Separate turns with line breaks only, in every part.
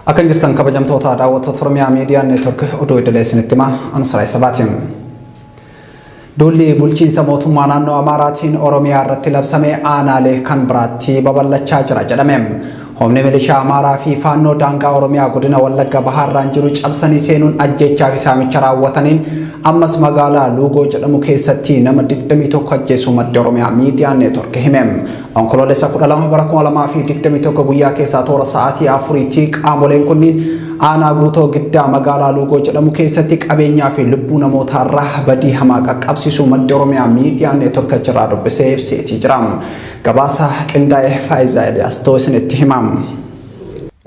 Akkan jirtan kabajamtoota daawwattoota Oromiyaa Miidiyaa Neetwork oduu idilee isinitti himaa Ansaraa Isabaatiin. Duulli bulchiinsa mootummaa naannoo Amaaraatiin Oromiyaa irratti labsame aanaalee kan biraatti babal'achaa jira jedhame. Humni milishaa Amaaraa fi Faannoo daangaa Oromiyaa godina Wallagga Bahaarraan jiru cabsanii seenuun ajjeechaa fi saamicha raawwataniin ammas magaalaa Luugoo jedhamu keessatti nama 21 ajjeesuu maddi Oromiyaa Miidiyaa Neetwork hime. Onkoloolessa 12 bara 2021 guyyaa keessaa toora sa'aatii afuriitti qaamoleen kunniin aanaa guutoo giddaa magaalaa Luugoo jedhamu keessatti qabeenyaa fi lubbuu namootaa irraa badii hamaa qaqqabsiisuu maddi Oromiyaa miidiyaa neetworka jiraa dubbisee ibseetii jira. Gabaasa qindaa'e Faayizaa Eliyaastoo isinitti himamu.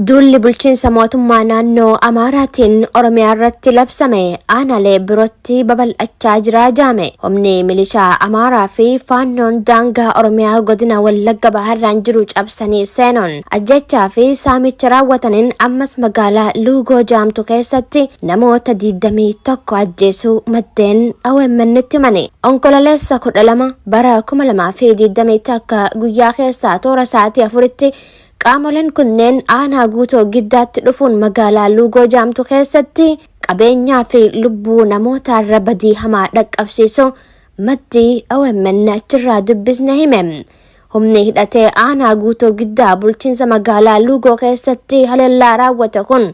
Duulli bulchiinsa mootummaa naannoo Amaaraatiin Oromiyaa irratti labsame aanaalee birootti babal'achaa jira jaame. Humni milishaa Amaaraa fi faannoon daangaa Oromiyaa godina Wallagga Bahaarraan jiru cabsanii seenuun ajjechaa fi saamicha raawwataniin ammas magaalaa Luugoo jaamtu keessatti namoota 21 ajjeesuu maddeen OMNtti himani. Onkololeessa 12 bara 2021 guyyaa keessaa toora sa'aatii afuritti Qaamoleen kunneen aanaa Guutoo Giddaatti dhufuun magaalaa Luugoo jaamtu keessatti qabeenyaa fi lubbuu namootaarra badii hamaa dhaqqabsiisuu maddi OMN achirraa dubbisne hime. Humni hidhatee aanaa Guutoo Giddaa bulchiinsa magaalaa Luugoo keessatti haleellaa raawwate kun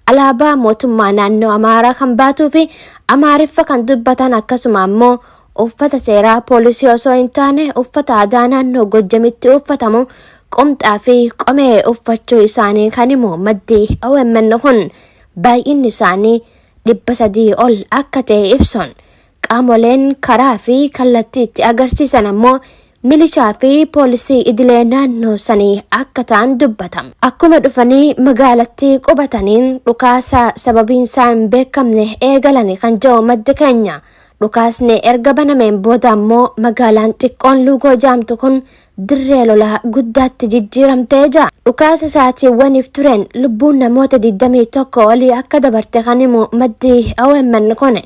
alaabaa mootummaa naannoo Amaaraa kan baatuu fi Amaariffa kan dubbatan akkasuma ammoo Uffata seeraa poolisii osoo hin taane uffata aadaa naannoo Gojjamitti uffatamu qomxaa fi qomee uffachuu isaanii kan himu maddi OMN kun baay'inni isaanii dhibba sadii ol akka ta'e ibsuun qaamoleen karaa fi kallattii itti agarsiisan ammoo milishaa fi poolisii idilee naannoo sanii akka ta'an dubbata. Akkuma dhufanii magaalattii qubataniin dhukaasa sababiin isaa hin beekamne eegalani kan jedhu maddi keenya. Dhukaasni erga banameen booda ammoo magaalaan xiqqoon Luugoo jaamtu kun dirree lolaa guddaatti jijjiiramtee jira. Dhukaasa sa'aatiiwwaniif tureen lubbuun namoota 21 olii akka dabarte kan himu maddi OMN kun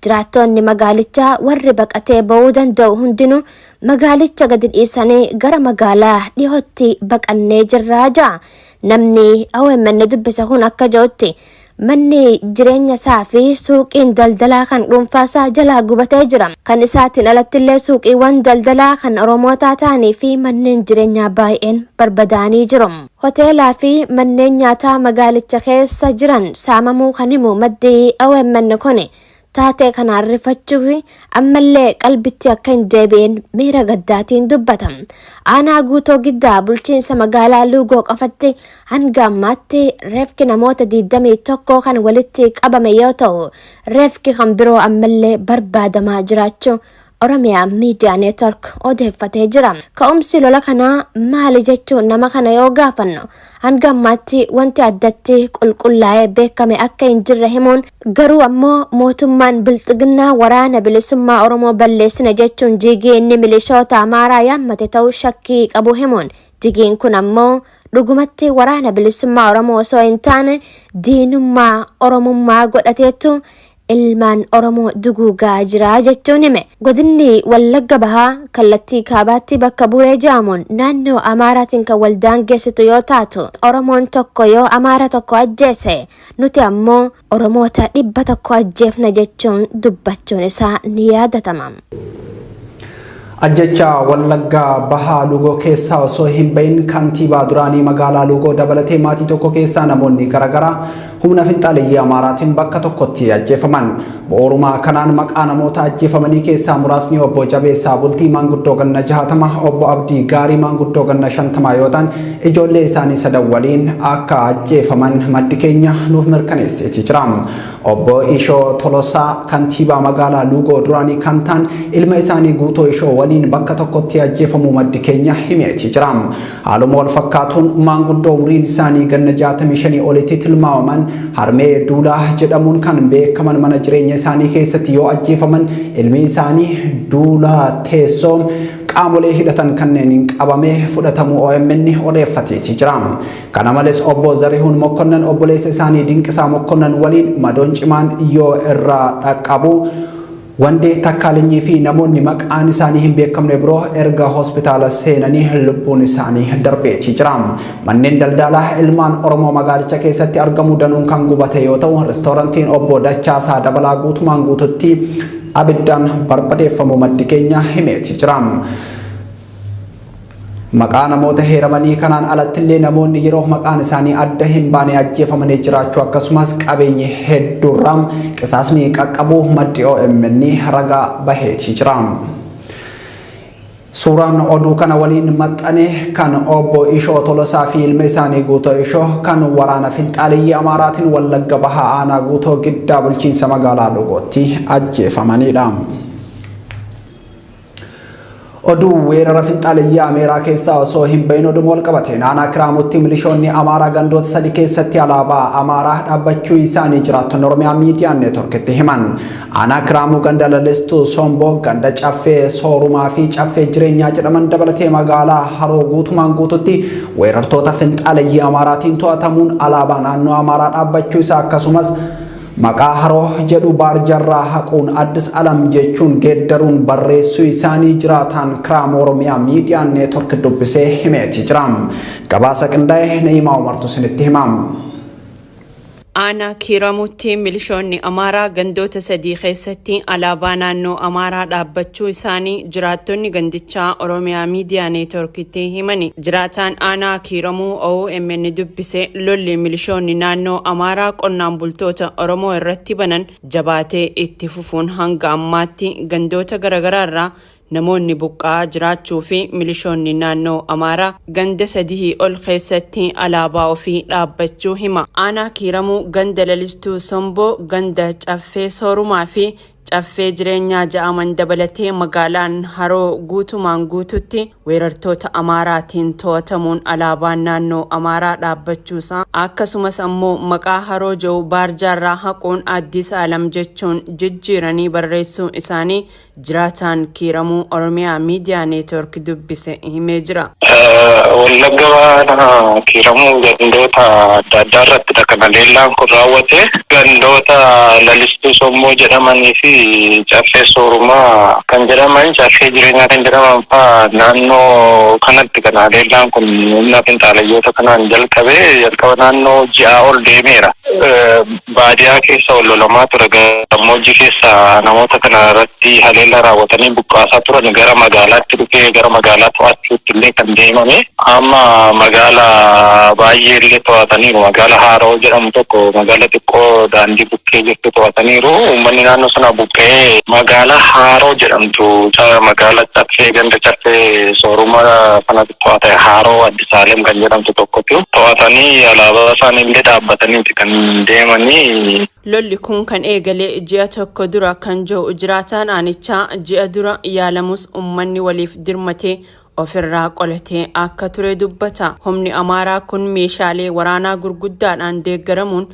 jiraattoonni magaalichaa warri baqatee ba'uu danda'u hundinuu magaalicha gadi dhiisanii gara magaalaa dhihootti baqannee jirraa ja'a. Namni OMN dubbise kun akka ja'utti Manni jireenya isaa fi suuqiin daldalaa kan dhuunfaa isaa jalaa gubatee jira. Kan isaatiin alattillee suuqiiwwan daldalaa kan Oromootaa ta'anii fi manneen jireenyaa baay'een barbadaa'anii jiru. Hoteelaa fi manneen nyaataa magaalicha keessa jiran saamamuu kan himu maddi omn kuni Taatee kanaan rifachuufi ammallee qalbitti akka hin deebi'een miira gaddaatiin dubbata. Aanaa Guutoo Giddaa bulchiinsa magaalaa Luugoo qofatti hanga ammaatti reefki namoota 21 kan walitti qabame yoo ta'u, reefki kan biroo ammallee barbaadamaa jiraachuu Oromia Media Network odeeffatee jira. Ka'umsi lola kanaa maali jechuun nama kana yoo gaafannu hanga ammaatti wanti addatti qulqullaa'ee beekame akka hin jirre himuun garuu ammoo mootummaan bilxiginnaa waraana bilisummaa Oromoo balleessina jechuun jiigii inni milishoota Amaaraa yaammate ta'uu shakkii qabu himuun jigiin kun ammoo dhugumatti waraana bilisummaa Oromoo osoo hin taane diinummaa Oromummaa godhateettu ilmaan Oromoo duguugaa jira jechuun hime. Godinni Wallagga Bahaa kallattii kaabaatti bakka Buree jedhamuun naannoo Amaaraatiin kan wal daangeessitu yoo taatu, Oromoon tokko yoo Amaara tokko ajjeese, nuti ammoo Oromoota dhibba tokko ajjeefna jechuun dubbachuun isaa ni yaadatama.
Ajjechaa Wallaggaa Bahaa Luugoo keessaa osoo hin bahin kantiibaa duraanii magaalaa Luugoo dabalatee maatii tokko keessaa namoonni garaagaraa humna finxaaleyyii Amaaraatiin bakka tokkotti ajjeefaman. Bu'uuruma kanaan maqaa namoota ajjeefamanii keessaa muraasni obbo Jabeessaa Bultii maanguddoo ganna jahatama, obbo Abdii Gaarii maanguddoo ganna shantamaa yoo ta'an ijoollee isaanii sadan waliin akka ajjeefaman maddi keenya nuuf mirkaneesseeti jira. Obbo Ishoo Tolosaa kantiibaa magaalaa Luugoo duraanii kan ta'an ilma isaanii Guutoo Ishoo waliin bakka tokkotti ajjeefamuu maddi keenya himeeti jira. Haaluma wal fakkaatuun maanguddoo umriin isaanii ganna 65 olitti tilmaamaman Harmee Duulaa jedhamuun kan beekaman mana jireenya isaanii keessatti yoo ajjeefaman ilmi isaanii Duulaa Teessoo qaamolee hidhatan kanneeniin qabamee fudhatamuu OMN odeeffateeti jira. Kana malees Obbo Zarihuun Mokkonnan obboleessa isaanii Dinqisaa Mokkonnan waliin madoon cimaan yoo irra dhaqqabu Wandee Takkaalinyi fi namoonni maqaan isaanii hin beekamne biroo erga hospitaala seenanii lubbuun isaanii darbeetii jira. Manneen daldaalaa ilmaan Oromoo magaalicha keessatti argamu danuun kan gubate yoo ta'u, restoorantiin Obbo Dachaasaa Dabalaa guutumaan guututti abiddaan barbadeeffamuu maddi keenya himeetii jira. Maqaa namoota heeramanii kanaan alattillee namoonni yeroof maqaan isaanii adda hin baane ajjeefamanii jiraachuu akkasumas qabeenyi hedduurraa qisaasni qaqqabuu maddi OMN ragaa baheetii jira. Suuraan oduu kana waliin maxxane kan obbo Ishoo Tolosaa fi ilma isaanii Guutoo Ishoo kan waraana finxaaleyyii Amaaraatiin Wallagga Bahaa Aanaa Guutoo Giddaa bulchiinsa magaalaa Logootti ajjeefamanidha. Oduu weerara finxaaleyyaa Ameeraa keessaa osoo hin bahin oduma wal qabate naanaa Kiraamutti milishoonni Amaaraa gandoota sadi keessatti alaabaa Amaaraa dhaabbachuu isaanii jiraattonni Oromiyaa miidiyaa neetworkitti himan. Aanaa Kiraamuu ganda Lalistuu Somboo, ganda Caffee Soorumaa fi Caffee Jireenyaa jedhaman dabalatee magaalaa Haroo guutumaan guututti weerartoota finxaaleyyaa Amaaraatiin to'atamuun alaabaa naannoo Amaaraa dhaabbachuu isaa akkasumas Maqaa Haroo jedhu baarjarraa haquun Addis Alam jechuun geeddaruun barreessuu isaanii jiraataan Kiraama Oromiyaa Miidiyaa Neetwork dubbisee himeeti jira. Gabaasa qindaa'e Na'iimaa Umartu isinitti hima. Aanaa
Kiiramuutti milishoonni Amaaraa gandoota sadii keessatti alaabaa naannoo Amaaraa dhaabbachuu isaanii jiraattonni gandichaa Oromiyaa Miidiyaa Neetworkitti himani. Jiraataan aanaa Kiiramuu omn dubbise lolli milishoonni naannoo Amaaraa qonnaan bultoota Oromoo irratti banan jabaatee itti fufuun hanga ammaatti gandoota garaagaraarraa namoonni buqqa'aa jiraachuu fi milishoonni naannoo Amaaraa ganda sadihii ol keessatti alaabaa ofii dhaabbachuu hima. Aanaa Kiiramuu ganda Lalistuu Somboo, ganda Caffee Soorumaa fi Caffee Jireenyaa ja'aman dabalatee magaalaan Haroo guutumaan guututti weerartoota Amaaraatiin to'atamuun alaabaan naannoo Amaaraa dhaabbachuusaa akkasumas ammoo maqaa Haroo ja'u baarjaarraa haquun Addis Alam jechuun jijjiiranii barreessuu isaanii jiraataan Kiiramuu Oromiyaa Miidiyaa Neetwork dubbise himee jira. Wallagga Bahaa
Kiiramuu gandoota adda addaa irrattidha kan haleellaan kun raawwate. Gandoota Lalistuu Sommoo jedhamanii fi Caffee Soorumaa kan jedhaman, Caffee Jireenyaa kan jedhaman fa'aa naannoo kanatti kan haleellaan kun humna finxaaleyyoota kanaan jalqabe. Jalqaba naannoo ji'aa ol deemeera. Baadiyaa keessa wal lolamaa ture gammoojjii keessa namoota kana irratti haleellaa raawwatanii buqqaasaa turan gara magaalaatti dhufee gara magaalaa to'achuutti illee kan deemame. Amma magaala baay'ee illee to'ataniiru. Magaala Haaroo jedhamu tokko magaala xiqqoo daandii bukkee jirtu to'ataniiru. Uummanni naannoo sanaa buqqa'ee. Magaala Haaroo jedhamtu magaala Caffee ganda Caffee Sooruma sanatti to'ate Haaroo. Saalem kan jedhamtu tokkotu to'atanii alaabaa isaaniillee dhaabbataniiti kan deemanii. Lolli kun
kan eegale ji'a tokko dura kan jiru jiraataan aanichaa ji'a dura yaalamus ummanni waliif dirmatee ofirraa qolatee akka ture dubbata. Humni Amaaraa kun meeshaalee waraanaa gurguddaadhaan deeggaramuun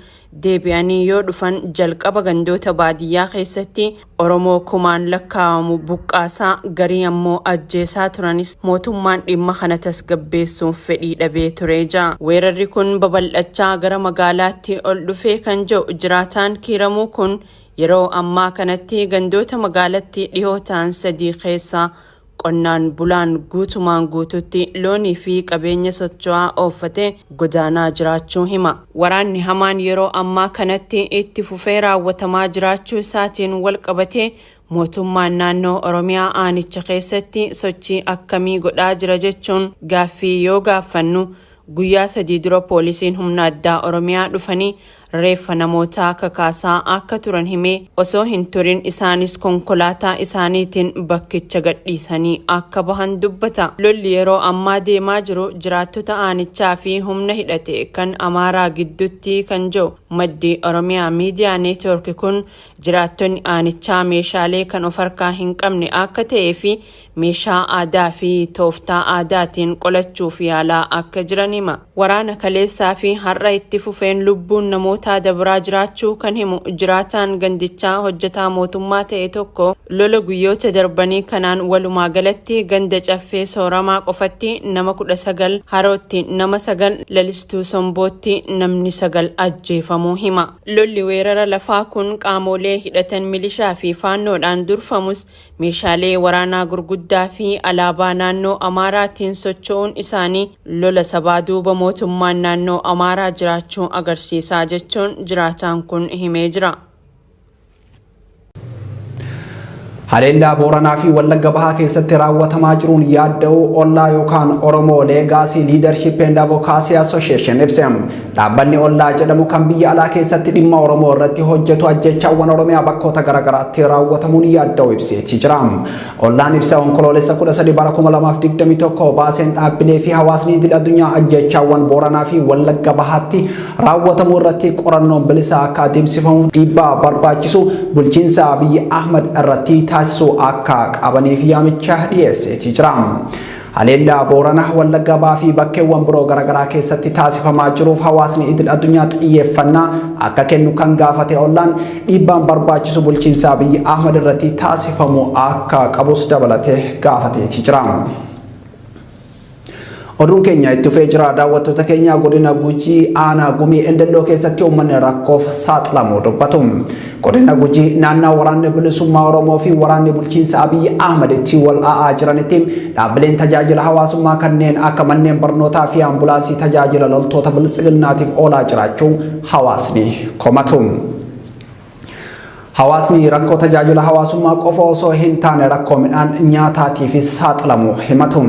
deebi'anii yoo dhufan jalqaba gandoota baadiyyaa keessatti Oromoo kumaan lakkaa'amu buqqaasaa garii ammoo ajjeesaa turanis mootummaan dhimma kana tasgabbeessuuf fedhii dhabee ture ja. Weerarri kun babal'achaa gara magaalaatti ol dhufee kan ja'u jiraataan Kiiramuu kun yeroo ammaa kanatti gandoota magaalatti dhihoo ta'an sadii keessaa Qonnaan bulaan guutumaan guutuutti loonii fi qabeenya socho'aa ooffatee godaanaa jiraachuu hima. Waraanni hamaan yeroo ammaa kanatti itti fufee raawwatamaa jiraachuu isaatiin walqabatee mootummaan naannoo Oromiyaa aanicha keessatti sochii akkamii godhaa jira jechuun gaaffii yoo gaaffannu, guyyaa sadii dura poolisiin humna addaa Oromiyaa dhufanii reeffa namootaa kakaasaa akka turan himee, osoo hin turin isaanis konkolaataa isaaniitiin bakkicha gadhiisanii akka bahan dubbata. Lolli yeroo ammaa deemaa jiru jiraattota aanichaa fi humna hidhate kan Amaaraa gidduutti kan je'u maddi Oromia Media Network kun, jiraattonni aanichaa meeshaalee kan of harkaa hin qabne akka ta'ee fi Meeshaa aadaa fi tooftaa aadaatiin qolachuuf yaalaa akka jiran hima. Waraana kaleessaa fi har'a itti fufeen lubbuun namootaa dabraa jiraachuu kan himu jiraataan gandichaa hojjetaa mootummaa ta'e tokko lola guyyoota darbanii kanaan walumaa galatti ganda caffee sooramaa qofatti nama 19 harootti nama 9 lalistuu sombootti namni 9 ajjeefamuu hima. Lolli weerara lafaa kun qaamoolee hidhatan milishaa fi faannoodhaan durfamus Meeshaalee waraanaa gurguddaa fi alaabaa naannoo Amaaraatiin socho'uun isaanii lola sabaa duuba mootummaan naannoo Amaaraa jiraachuu agarsiisa jechuun jiraataan kun himee jira.
Haleellaa Booranaa fi Wallagga Bahaa keessatti raawwatamaa jiruun yaadda'uu ollaa yookaan Oromoo Leegaasii Liidarshiip eend Avokaasii Asosheeshin ibse. Dhaabbanni Ollaa jedhamu kan biyya alaa keessatti dhimma Oromoo irratti hojjetu ajjeechaawwan Oromiyaa bakkoota garaagaraatti raawwatamuun yaadda'uu ibseeti jira. Ollaan ibsa Onkoloolessa 13 bara 2021 baaseen dhaabbilee fi hawaasni idil addunyaa ajjeechaawwan Booranaa fi Wallagga Bahaatti raawwatamu irratti qorannoon bilisaa akka adeemsifamuuf dhiibbaa barbaachisu bulchiinsa Abiyyi Ahmad irratti taasisuu akka qabaniif yaamicha dhiyeesseeti jira. Haleellaa Boorana, Wallagga Bahaa fi bakkeewwan biroo garagaraa keessatti taasifamaa jiruuf hawaasni idil addunyaa xiyyeeffannaa akka kennu kan gaafate ollaan, dhiibbaan barbaachisu bulchiinsa Abiy Ahmad irratti taasifamuu akka qabus dabalatee gaafateeti jira. Oduun keenya itti fufee jira. Daawwattoota keenya godina Gujii aanaa Gumii Eldelloo keessatti uummanni rakkoof saaxilamuu dubbatu. Godina Gujii naannaa waraanni bilisummaa Oromoo fi waraanni bulchiinsa Abiyyi Ahmad itti wal a'aa jiranitti dhaabbileen tajaajila hawaasummaa kanneen akka manneen barnootaa fi ambulaansii tajaajila loltoota biltsiginnaatiif oolaa jiraachuu hawaasni komatu. Hawaasni rakkoo tajaajila hawaasummaa qofa osoo hin taane rakkoo midhaan nyaataatiifis saaxilamu himatu.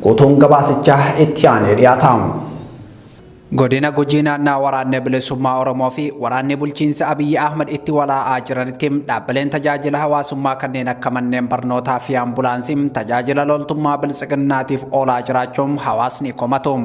Guutuun gabaasichaa itti aanee dhiyaata. Godina Gujii naannaa Waraanni Bilisummaa Oromoo fi Waraanni Bulchiinsa Abiyyi Ahmad itti walaa'aa jiranitti dhaabbileen tajaajila hawaasummaa kanneen akka manneen barnootaa fi ambulaansii tajaajila loltummaa Biltsiginnaatiif oolaa jiraachuu hawaasni komatu.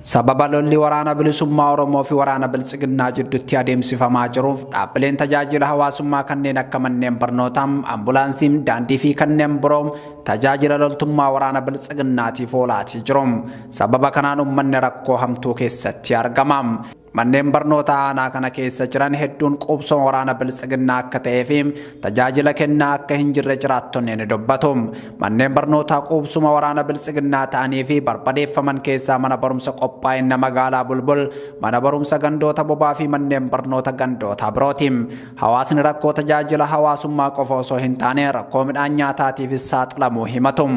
Sababa lolli Waraana Bilisummaa Oromoo fi Waraana Biltsiginnaa jiddutti adeemsifamaa jiruuf dhaabbileen tajaajila hawaasummaa kanneen akka manneen barnootaa, ambulaansii, daandii fi kanneen biroo tajaajila loltummaa waraana Biltsiginnaatiif oolaatii jiru. Sababa kanaan ummanni rakkoo hamtuu keessatti argama. Manneen barnootaa aanaa kana keessa jiran hedduun quubsuma waraana Biltsiginnaa akka ta'ee fi tajaajila kennaa akka hin jirre jiraattonni ni dubbatu. Manneen barnootaa quubsuma waraana Biltsiginnaa ta'anii fi barbadeeffaman keessaa mana barumsa qophaa'inna magaalaa Bulbul, mana barumsa gandoota bobaa fi manneen barnoota gandootaa birooti. Hawaasni rakkoo tajaajila hawaasummaa qofa osoo hin taane rakkoo midhaan nyaataatiifis saaxilamuu himatu.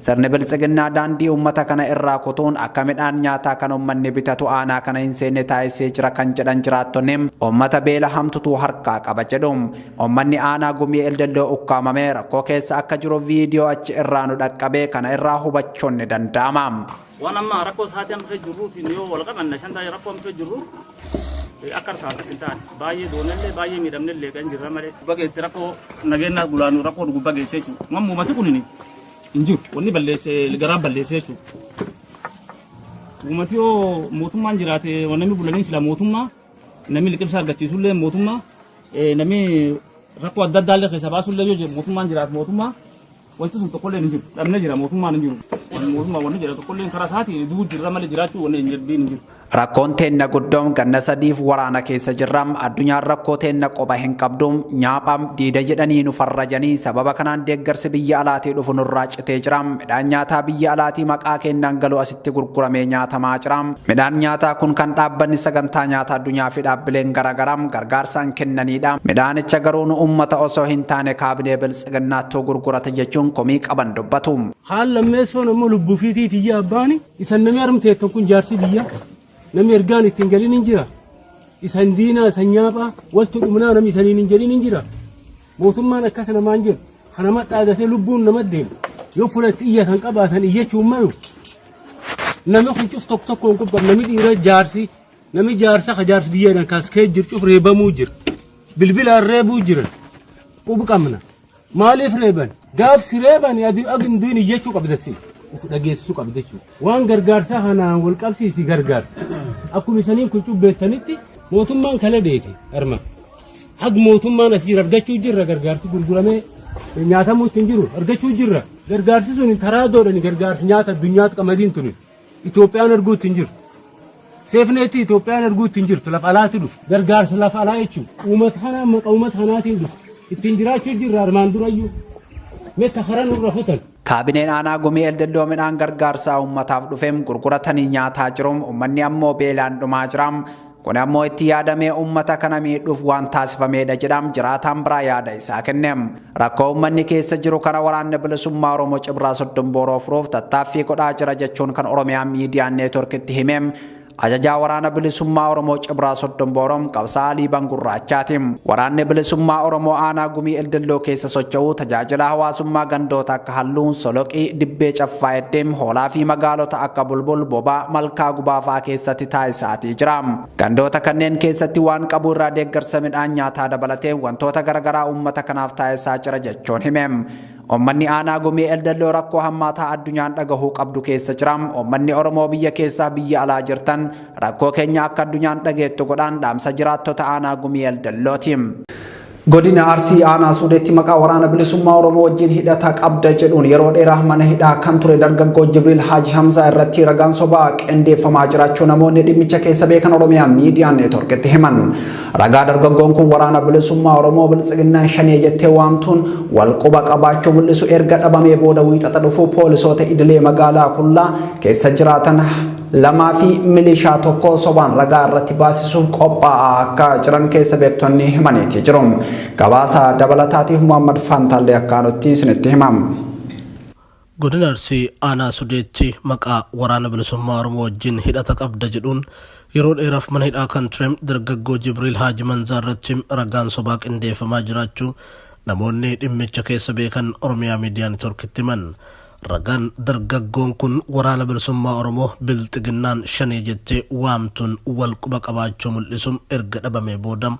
Sirni Biltsiginnaa daandii uummata kana irraa kutuun akka midhaan nyaataa kan uummanni bitatu aanaa kana hin seenne taasisee jira kan jedhan jiraattonni, uummata beela hamtutu harkaa qaba jedhu. Uummanni aanaa Gumii Eldelloo ukkaamamee rakkoo keessa akka jiru viidiyoo achi irraa nu dhaqqabe kana irraa hubachuun ni danda'ama. Waan amma
rakkoo sa'aatii amma keessa jirruutiin yoo wal qabanna shan taa'ee rakkoo amma keessa jirru akka harkaa harkatti hin taane baay'ee doonellee baay'ee miidhamnellee kan jirra malee. Bageetti rakkoo nageenyaa gulaanuu rakkoo dhugubba geessee jiru. Mammuumati kunini. hin jiru. Wanni balleesse garaa balleesse jechuudha. Uummati yoo mootummaan jiraate namni bulanii sila mootummaa namni liqimsa argachiisullee mootummaa eh, namni rakkoo adda addaa illee keessa baasullee yoo jiru mootummaan jiraatu mootummaa wanti sun tokkollee hin jiru. Dhabnee jira mootummaan hin jiru. Mootummaa wanni jira tokkollee karaa isaatiin du'uu jirra malee jiraachuu wanni hin jirbiin hin jiru. Rakkoon teenna
guddoon ganna sadiif waraana keessa jirra. Addunyaan rakkoo teenna qopha hin qabdu. Nyaapha, diida jedhanii nu farrajanii. Sababa kanaan deeggarsi biyya alaatii dhufu nurraa citee jira. Midhaan nyaataa biyya alaatii maqaa keennaan galu asitti gurguramee nyaatamaa jira. Midhaan nyaataa kun kan dhaabbanni Sagantaa Nyaata Addunyaa fi dhaabbileen garaagaraa gargaarsaan kennaniidha. Midhaanicha garuu nu uummata osoo hin taane kaabinee Biltsiginnaattuu gurgurata jechuun komii qaban dubbatu. Kaan lammeessoon
ammoo lubbuufiitii tiyyaa abbaani. Isan namni arm teettan kun jaarsii biyya namni ergaan ittiin galin hin jira. Isan diinaa isan nyaaphaa waltu dhumnaa namni isaniin hin jedhin hin jira. Mootummaan akkas namaan jedhu kan nama dhaadatee lubbuun nama deemu yoo fulatti iyyatan qabaatan iyyachuun malu. Namni kun cuf tokko tokkoon qubqab namni dhiira jaarsi namni jaarsa ka jaarsi biyyaadhaan kaaskee jiru cuf reebamuu jira. Bilbilaan reebuu jira. Qubqabna. Maaliif reeban? Gaaf si reebani adi ag hin du'in iyyachuu qabda si. Uf dhageessisuu qabda jechuudha. Waan gargaarsaa kanaan wal qabsiisi gargaarsa. Akkuma isaniin kun cubbeettanitti mootummaan kala deete arma. Ag mootummaan asii argachuu jirra gargaarsi gurguramee nyaatamuu ittiin jiru argachuu jirra. Gargaarsi sun taraadoodhaan gargaarsi nyaata addunyaatti qamadiin tuni. Itoophiyaan arguutti hin jirtu. Seefneetti Itoophiyaan arguutti hin jirtu lafa alaatti dhufu. Gargaarsa lafa alaa jechuun uummata kanaa maqa uummata kanaatiin dhufu. Ittiin jiraachuu jirra armaan durayyuu. Metta karaa nurra futan. Kaabineen aanaa gumii
eldeddoo midhaan gargaarsaa uummataaf dhufeem gurguratanii nyaataa jiruum uummanni ammoo beelaan dhumaa jiraam. Kun ammoo itti yaadamee uummata kana miidhuuf waan taasifameedha jedha jiraataan biraa yaada isaa kenne. Rakkoo uummanni keessa jiru kana Waraanni Bilisummaa Oromoo Cibraa Soddon Booroo furuuf tattaaffii godhaa jira jechuun kan Oromiyaa Miidiyaa Neetworkitti hime Ajajaa Waraana Bilisummaa Oromoo Cibraa Soddon Booroom Qabsaa'aa Liiban Gurraachaati. Waraanni Bilisummaa Oromoo Aanaa Gumii Eldelloo keessa socho'u tajaajila hawaasummaa gandoota ka halluun soloqii, dibbee caffaa'etti, hoolaa fi magaalota akka Bulbul, Bobaa, Malkaa Gubaa fa'a keessatti taasisaatii jira. Gandoota kanneen keessatti waan qabu irraa deeggarsa midhaan nyaataa dabalatee wantoota garagaraa uummata kanaaf taasisaa jira jechuun hime. Uummanni Aanaa Gumii Eldelloo rakkoo hammaataa addunyaan dhagahuu qabdu keessa jira. Uummanni Oromoo biyya keessaa biyya alaa jirtan rakkoo keenya akka addunyaan dhageettu godhaan dhaamsa jiraattota Aanaa Gumii Eldellooti. Godina Arsii Aanaa Suudeetti maqaa waraana bilisummaa Oromoo wajjin hidhata qabda jedhuun yeroo dheeraa mana hidhaa kan ture dargaggoo Jibriil Haaji Hamzaa irratti ragaan sobaa qindeeffamaa jiraachuu namoonni dhimmicha keessa beekan Oromiyaa Miidiyaa Neetworkitti himan. Ragaa dargaggoon kun waraana bilisummaa Oromoo Biltsiginnaan shanee jettee waamtuun wal quba qabaachuu mul'isu erga dhabamee booda wiixata dhufu poolisoota idilee magaalaa Kullaa keessa jiraatan lamaa fi milishaa tokko sobaan ragaa irratti baasisuuf qophaa'aa akka jiran keessa beektonni himaniiti jiru. Gabaasa dabalataatiif Muhammad Faantaallee akka aanutti isinitti himam.
Godina Arsii aanaa Sudeetti maqaa waraana bilisummaa Oromoo wajjin hidhata qabda jedhuun yeroo dheeraaf mana hidhaa kan ture dargaggoo Jibriil Haaji Manzaa irratti ragaan sobaa qindeeffamaa jiraachuu namoonni dhimmicha keessa beekan Oromiyaa Miidiyaa Netoorkitti himan. Ragaan dargaggoon kun Waraana Bilisummaa Oromoo Bilxiginnaan Shanee jettee waamtuun wal quba qabaachuu mul'isu erga dhabamee booda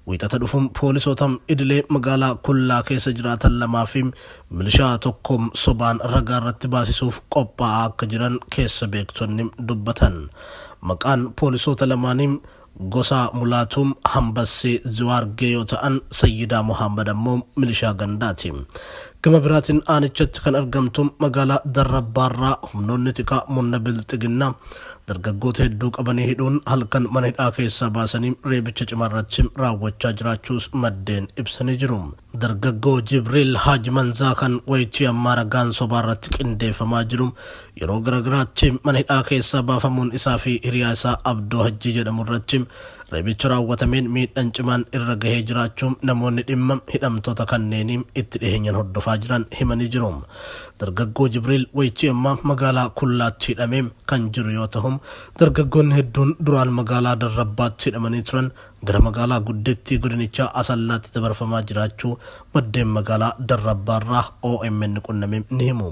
Wiixata dhufu poolisoota idilee magaalaa Kullaa keessa jiraatan lamaa fi milishaa tokko sobaan ragaa irratti baasisuuf qophaa'aa akka jiran keessa beektonni dubbatan. Maqaan poolisoota lamaanii Gosa Mulaatuu, Hambassee, Ziwaargee yoo ta'an, Sayyidaa Muhaammad ammoo milishaa gandaati. Gama biraatiin aanichatti kan argamtu magaalaa Darrabbaarraa humnoonni tikaa murna Bilxiginnaa dargaggoota hedduu qabanii hidhuun halkan mana hidhaa keessaa baasanii reebicha cimaa irratti raawwachaa jiraachuus maddeen ibsanii jiru. Dargaggoo Jibriil Haaj Manzaa kan wayitii ammaa ragaan sobaa irratti qindeeffamaa jiru yeroo garagaraatti mana hidhaa keessaa baafamuun isaa fi hiriyaa isaa Abdoo Hajjii jedhamu irratti reebicha raawwatameen miidhan cimaan irra gahee jiraachuu namoonni dhimma hidhamtoota kanneenii itti dhiheenyan hordofaa jiran himanii jiru. Dargaggoo Jibriil wayitii ammaa magaalaa Kullaatti hidhamee kan jiru yoo tahu dargaggoonni hedduun duraan magaalaa Darrabbaatti hidhamanii turan gara magaalaa guddittii godinichaa Asallaatti dabarfamaa jiraachuu maddeen magaalaa Darrabbaarraa omn qunname ni himu.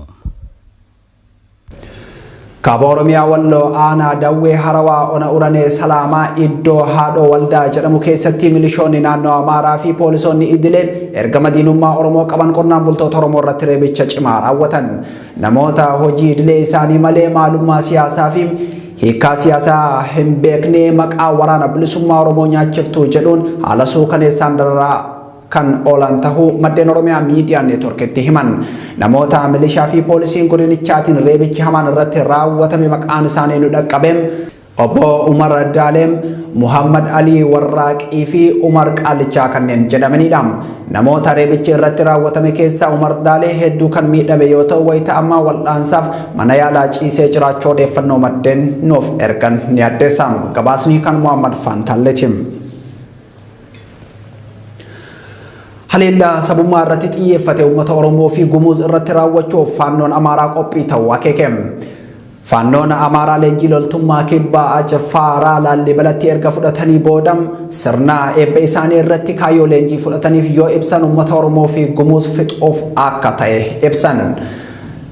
Kaaba Oromiyaa Walloo aanaa Dawwee Harawaa Ona Uranee Salaamaa iddoo haadhoo waldaa jedhamu keessatti milishoonni naannoo Amaaraa fi poolisoonni idilee ergama diinummaa Oromoo qaban qonnaan bultoota Oromoo irratti reebicha cimaa raawwatan. Namoota hojii idilee isaanii malee maalummaa siyaasaa fi Hiikkaa siyaasaa hin beekne maqaa waraana bilisummaa Oromoo nyaachiftuu jedhuun haala suukaneessaan dararaa kan oolan tahuu maddeen Oromiyaa Miidiyaa Neetworkitti himan. Namoota milishaa fi poolisiin godinichaatiin reebichi hamaan irratti raawwatame maqaan isaanii nu dhaqqabe. Obbo Umar Daaleem, Muhammad Alii Warraaqii fi Umar Qaallichaa kanneen jedhamaniidha. Namoota reebichi irratti raawwatame keessaa Umar Daalee hedduu kan miidhame yoo ta'u wayita ammaa wal'aansaaf mana yaalaa ciisee jiraachuu odeeffannoo maddeen nuuf ergan ni addeessa. Gabaasni kan Muhammad Faantaalleeti. Haleellaa sabummaa irratti xiyyeeffate uummata Oromoo fi Gumuuz irratti raawwachuuf faannoon Amaaraa qophii ta'uu akeeke. Faannoon Amaaraa leenjii loltummaa Kibba Cfaaraa Laallibalatti erga fudhatanii booda sirna eebba isaanii irratti kaayyoo leenjii fudhataniif yoo ibsan uummata Oromoo fi Gumuuz fixuuf akka ta'e ibsan.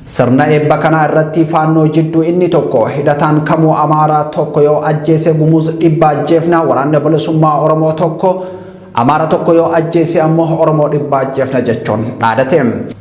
Sirna eebba kanaa irratti faannoo jidduu inni tokko hidhataan kamuu Amaaraa tokko yoo ajjeese Gumuuz dhibba ajjeefna waraanni bilisummaa Oromoo tokko Amaara tokko yoo ajjeese ammoo Oromoo dhibba ajjeefna jechuun dhaadate.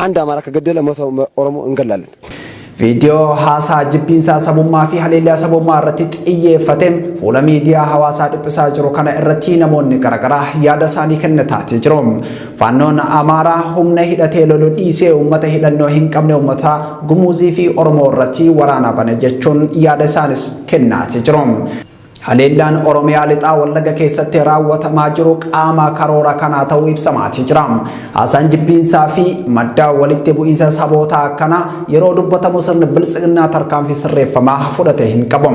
And Amara akka gaddela ummata Oromoo hin gallaalle. Viidiyoo
haasaa jibbiinsaa sabummaa fi haleellaa sabummaa irratti xiyyeeffate fuula miidiyaa hawaasaa dhiphisaa jiru kana irratti namoonni garaagaraa yaada isaanii kennataatii jiru. Faannoon Amaaraa humna hidhatee lolu dhiisee uummata hidhannoo hin qabne uummata Gumuuzii fi Oromoo irratti waraana bane jechuun yaada isaanis kennaatii jiru. Haleellaan Oromiyaa Lixaa Wallagga keessatti raawwatamaa jiru qaama karoora kanaa ta'uu ibsamaatii jira. Haasaan jibbiinsaa fi madda walitti bu'iinsa sabootaa akkana yeroo dubbatamu sirni biltsiginnaa tarkaanfii sirreeffamaa fudhate hin qabu.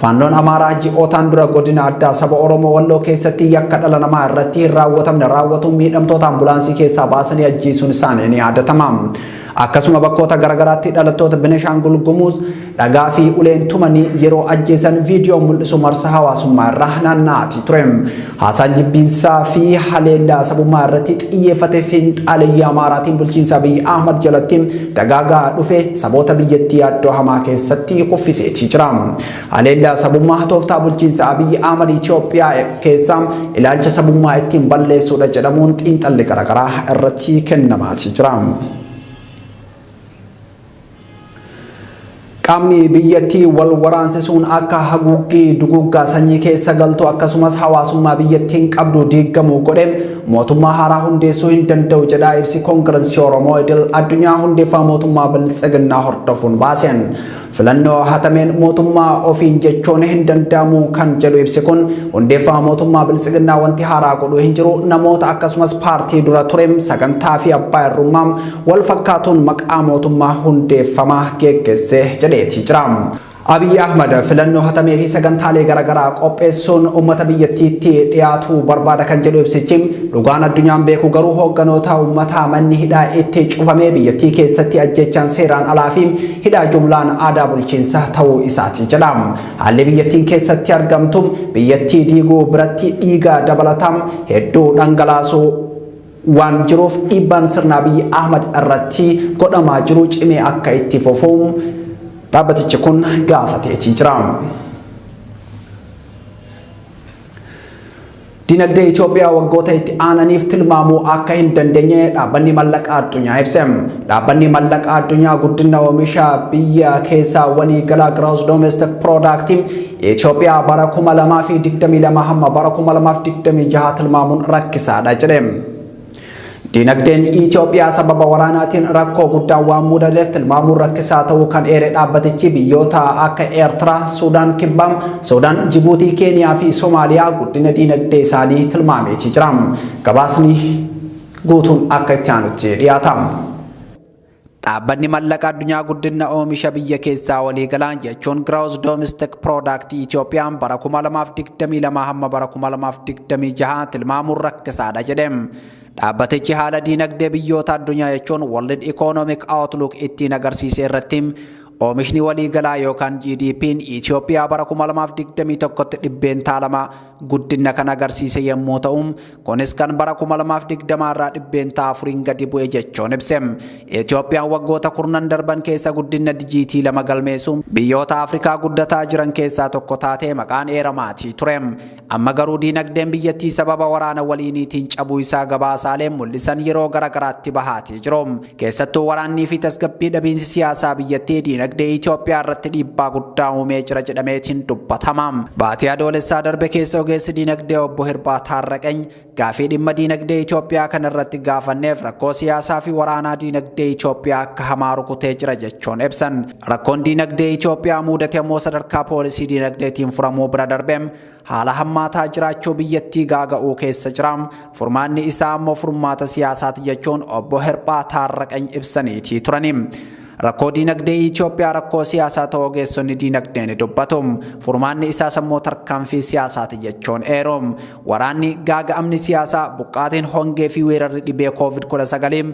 Faannoon Amaaraa ji'ootaan dura godina addaa saba Oromoo Walloo keessatti yakka dhala namaa irratti hin raawwatamne raawwatuun miidhamtoota ambulaansii keessaa baasanii ajjeesuun isaanii ni yaadatama. Akkasuma bakkoota garagaraatti dhalattoota Beneshaangul Gumuz dhagaa fi uleen tumanii yeroo ajjeesan viidiyoon mul'isu marsaa hawaasummaa irra naanna'aatii ture. Haasaa jibbiinsaa fi haleellaa sabummaa irratti xiyyeeffate fiinxaaleyyaa Amaaraatiin bulchiinsa Abiy Ahmad jalatti dagaagaa dhufe saboota biyyattii yaaddoo hamaa keessatti kuffiseetii jira. Haleellaa sabummaa tooftaa bulchiinsa Abiy Ahmad Itoophiyaa keessaa ilaalcha sabummaa ittiin balleessuudha jedhamuun xiinxalli garaagaraa irratti kennamaatii jira. Qaamni biyyattii wal waraansisuun akka haguuggii duguuggaa sanyii keessa galtu akkasumas hawaasummaa biyyattiin qabdu diiggamu godhe mootummaa haaraa hundeessuu hin danda'u jedha ibsi koongirensii Oromoo idil addunyaa hundeeffama mootummaa biltsiginnaa hordofuun baaseen. Filannoo hatameen mootummaa ofiin jechuun hin danda'amu kan jedhu ibsi kun hundeeffama mootummaa biltsiginnaa wanti haaraa godhu hin jiru namoota akkasumas paartii dura ture sagantaa fi abbaa irrummaa wal fakkaatuun maqaa mootummaa hundeeffama geggeesse jedheetii jira. Abiy Ahmad filannoo hatamee fi sagantaalee garaagaraa qopheessuun uummata biyyattiitti dhiyaatuu barbaada kan jedhu ibsichi dhugaan addunyaan beeku garuu hoogganoota uummataa manni hidhaa itti cufamee biyyattii keessatti ajjeechaan seeraan alaa fi hidhaa jumlaan aadaa bulchiinsa ta'uu isaati jedha. Haalli biyyattiin keessatti argamtu biyyattii diiguu biratti dhiiga dabalataa hedduu dhangalaasuu waan jiruuf dhiibbaan sirna Abiy Ahmad irratti godhamaa jiru cimee akka itti fufu dhaabbatichi kun gaafateetii jira. Dinagdee Itoophiyaa waggoota itti aananiif tilmaamuu akka hin dandeenye dhaabbanni mallaqa addunyaa ibse. Dhaabbanni mallaqa addunyaa guddina oomisha biyya keessaa walii galaa gross domestic product Itoophiyaa bara 2022 hamma bara 2026 tilmaamuun rakkisaadha jedhe. Diinagdeen Itoophiyaa sababa waraanaatiin rakkoo guddaan waan mudateef tilmaamuun rakkisaa ta'uu kan eere dhaabbatichi biyyoota akka Eertiraa, Suudaan Kibbaa, Suudaan, Jibuutii, Keeniyaa fi Somaaliyaa guddina diinagdee isaanii tilmaameeti jira. Gabaasni guutuun akka itti aanutti dhiyaata. Dhaabbanni Mallaqa Addunyaa Guddinna Oomisha Biyya Keessaa Waliigalaan jechuun Gross Domestic Product Itoophiyaan bara 2022 hamma bara 2026 tilmaamuun rakkisaadha jedhe. Dhaabbatichi haala diinagdee biyyoota addunyaa jechuun World Economic Outlook ittiin agarsiise irratti oomishni waliigalaa yookaan GDP'n Itoophiyaa bara 2021tti dhibbeentaa 2 guddinna kan agarsiise yommuu ta'u kunis kan bara 2020 irraa dhibbeentaa afuriin gadi bu'e jechuun ibse. Itoophiyaan waggoota kurnan darban keessa guddinna dijiitii lama galmeessu biyyoota Afrikaa guddataa jiran keessaa tokko taatee maqaan eeramaatii ture. Amma garuu diinagdeen biyyattii sababa waraana waliiniitiin cabuu isaa gabaasaaleen mul'isan yeroo gara garaatti bahaatii jiru. Keessattuu waraannii fi tasgabbii dhabiinsi siyaasaa biyyattii diinagdee Itoophiyaa irratti dhiibbaa guddaa uumee jira jedhameetiin dubbatama. Baatii Adoolessaa darbe keessa ogeessi diinagdee obbo Hirbaa Taarraqany gaafii dhimma diinagdee Itoophiyaa kana irratti gaafanneef rakkoo siyaasaa fi waraanaa diinagdee Itoophiyaa akka hamaa rukutee jira jechuun ibsan. Rakkoon diinagdee Itoophiyaa muudate immoo sadarkaa poolisii diinagdeetiin furamuu bira darbeem haala hammaataa jiraachuu biyyattii gaaga'uu keessa jira. Furmaanni isaa ammoo furmaata siyaasaati jechuun obbo Hirphaa Taarraqany ibsaniitii turani. Rakkoo diinagdee Itoophiyaa rakkoo siyaasaa ta'uu ogeessonni diinagdee ni dubbatu. Furmaanni isaas ammoo tarkaanfii siyaasaati jechuun eeru. Waraanni, gaaga'amni siyaasaa, buqqaatiin, hongee fi weerarri dhibee Covid 19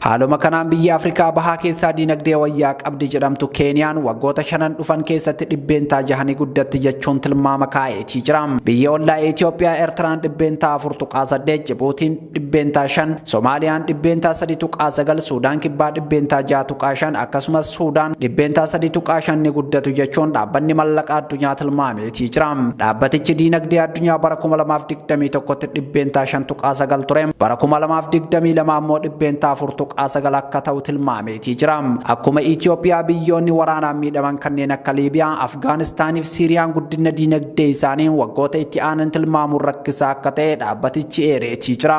Haaluma kanaan biyyi Afrikaa bahaa keessaa diinagdee wayyaa qabdi jedhamtu Keeniyaan waggoota shanan dhufan keessatti dhibbeentaa jaha ni guddatti jechuun tilmaama kaa'eetii jira. Biyyi ollaa Itoophiyaa Eertiraan dhibbeentaa afur tuqaa saddeet, Jibuutiin dhibbeentaa shan, Somaaliyaan dhibbeentaa sadi tuqaa sagal, Suudaan Kibbaa dhibbeentaa jaha tuqaa shan akkasumas Suudaan dhibbeentaa sadi tuqaa shan ni guddatu jechuun dhaabbanni mallaqa addunyaa tilmaamee Tichira, Dhaabbatichi diinagdee addunyaa bara 2021tti dhibbeentaa 5.9 ture, bara 2022 ammoo dhibbeentaa 4.9 akka ta'u tilmaameetii jira. Akkuma Itiyoophiyaa biyyoonni waraanaan miidhaman kanneen akka Liibiyaa, Afgaanistaaniif Siiriyaan guddinna diinagdee isaanii waggoota itti aanan tilmaamuun rakkisaa akka ta'e dhaabbatichi eereetii jira.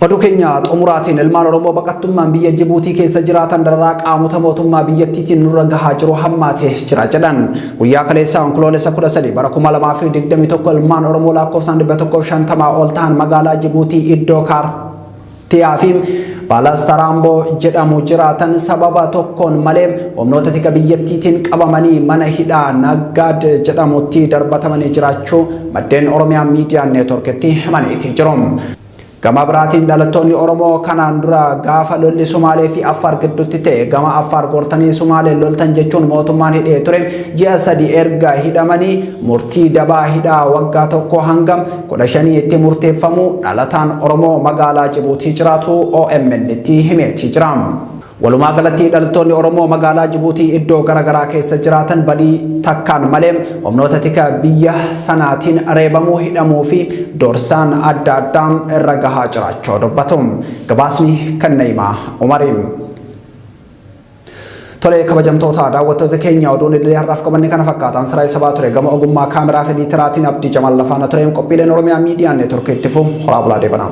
Oduu keenya xumuraatiin ilmaan Oromoo baqattummaan biyya Jibuutii keessa jiraatan dararaa qaamota mootummaa biyyattiitiin nurra gahaa jiru hammaatee jira jedhan. Guyyaa kaleessaa Onkoloolessa 13 bara 2021 ilmaan Oromoo lakkoofsaan 150 ol ta'an magaalaa Jibuutii iddoo kaartiyaa fi Baalaastaraamboo jedhamu jiraatan sababa tokkoon malee humnoota tika biyyattiitiin qabamanii mana hidhaa Naggaad jedhamutti darbatamanii jiraachuu maddeen Oromiyaa Miidiyaa Neetworkitti himaniiti jiru. Gama biraatiin dhalattoonni Oromoo kanaan dura gaafa lolli Sumaalee fi Affaar gidduutti ta'e gama Affaar gortanii Sumaalee loltan jechuun mootummaan hidhee ture ji'a sadi erga hidhamanii murtii dabaa hidhaa waggaa tokko hanga kudha shanii itti murteeffamuu dhalataan Oromoo magaalaa Jibuutii jiraatu OMN itti himeetii jira. Walumaa galatti dhaltoonni Oromoo magaalaa Jibuutii iddoo garaagaraa keessa jiraatan badii takkaan malee humnoota tika biyya sanaatiin reebamuu, hidhamuu fi doorsaan adda addaa irra gahaa jiraachuu dubbatu. Gabaasni kan Na'imaa Umari. Tolee kabajamtoota daawwattoota keenya oduun idilee har'aaf qabanne kana fakkaataan siraa isa baa ture gama ogummaa kaameraa fi liitiraatiin abdii jamal lafaana tureem qophiileen Oromiyaa miidiyaa neetworkii itti fufu horaa bulaa deebanaa.